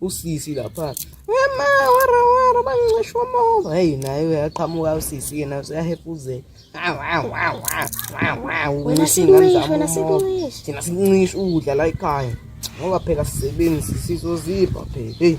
usisi lapha ema wara wara bancisha umoba heyi naye uyaqhamuka usisi yena useyahepuzela wena sikuncisha wena sikuncisha thina sikuncisha ukudla la ekhaya ngoba phela sisebenzi sizozipha phela heyi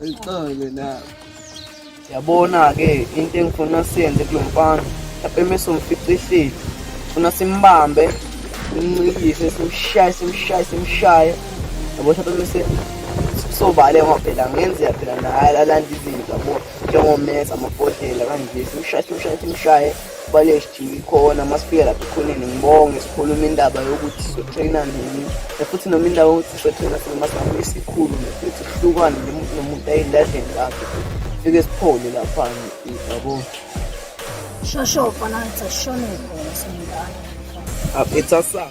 Ayixole na. Yabona ke into engifuna siyenze kulomfana. Lapha emese umficisile. Funa simbambe, simncikise, simshaye, simshaye, simshaye. Yabo lapha emese sobale ngoba phela ngenzeka phela naye alanda izinto yabo njengomesa amabhodlela kanje simshaye simshaye simshaye Bale sidinga ikhona uma sifika lapha ekhoneni ngibonge sikhuluma indaba yokuthi sizotrayina nini futhi noma indawo yokuthi sizotrayina sinoma singabe isikhulu futhi sihlukane nomuntu ayilahleni lakhe fike siphole lapha yabo shosho fana ngithashone khona singane aphetha sa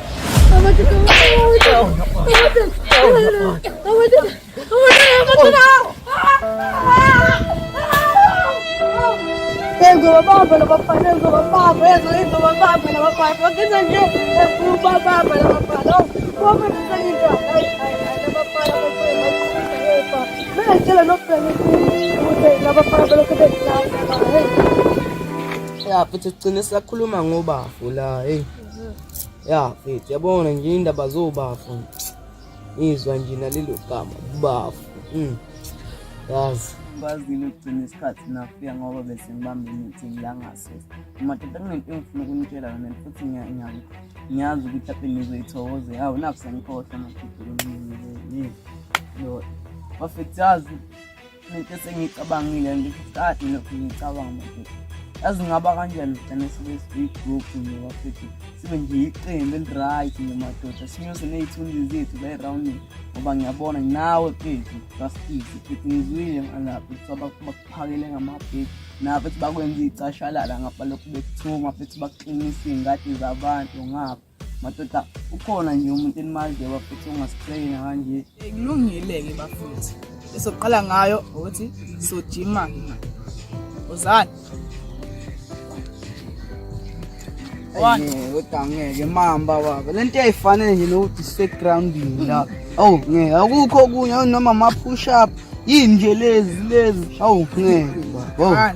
ya futhi ugcine sakhuluma ngobafo la heyi ya mfethu, yabona nje indaba zobafu izwa nje nalelo gama bafu mm. yazi kwazile ukugcina isikhathi nafika ngoba bese ngibambe imithi ngilangasese madoda kunento engifuna ukunitshela yona futhi ngiyazi ukuthi ape nizoyithokoze hawu naku sengikhohlwa madoda kunini lo wafethu yazi Into esengiyicabangile ngikade lokhu ngicabanga ukuthi yazi ngaba kanjani ugcina sibe siyi-group noma futhi sibe nje iqembu eli-right nje madoda sinyose ney'thunzi zethu layi-rounding ngoba ngiyabona nawe phezu basikizi futhi ngizwile ngalapho kuthiwa bakuphakele ngamabheki nabo futhi bakwenza iy'cashalala ngapha lokhu bekuthuma futhi bakuqinisa iy'ngadi zabantu ngapha madoda ukhona nje umuntu enimaziyo bafuthu ongasitreyina kanje kulungile-ke bafuthu esokuqala ngayo ukuthi sojima uzani kodwa ngeke mamba baba le nto eyayifanele nje nokuthi sisegroundini la awu ngeke akukho okunye noma ma-push up yini nje lezi lezi awu ngeke baba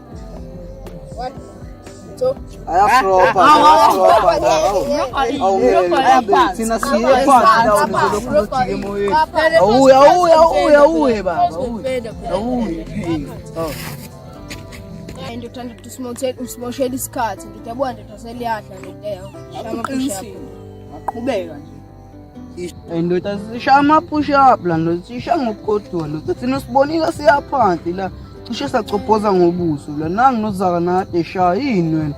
and uthanda ukuthi usimoshele isikhathi ngithi yabona ndoda seliyadla ndoda yaqhubeka nje Ndoda sishaya ama-push up la ndoda sisha ngokugodola ndoda thina sibonile siyaphansi la cishe sacophoza ngobuso la nangi nozaka nade shaya yini wena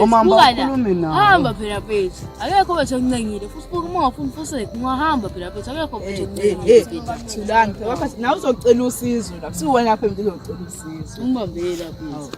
omama bakhulume nawe hamba phela phethi akekho wethu okuncengile futhi buka uma ungafuni ufuseke ungahamba phela phethi akekho wethu okuncengile thulani phela wafathi nawe uzocela usizo la kusuwena phela uzocela usizo umbambela phethi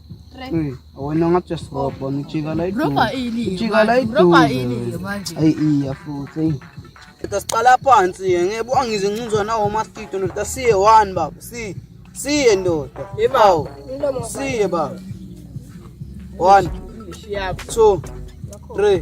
Uy, ako na nga chas ropa. Ni chika light. Bro ka ili. Chika light. Bro ka ili. Ay iya futhi. Ito siqala phansi eh. ngeke angize ncinzwa nawo mastito ndoda siye one baba si siye ndoda ibawo siye baba one two three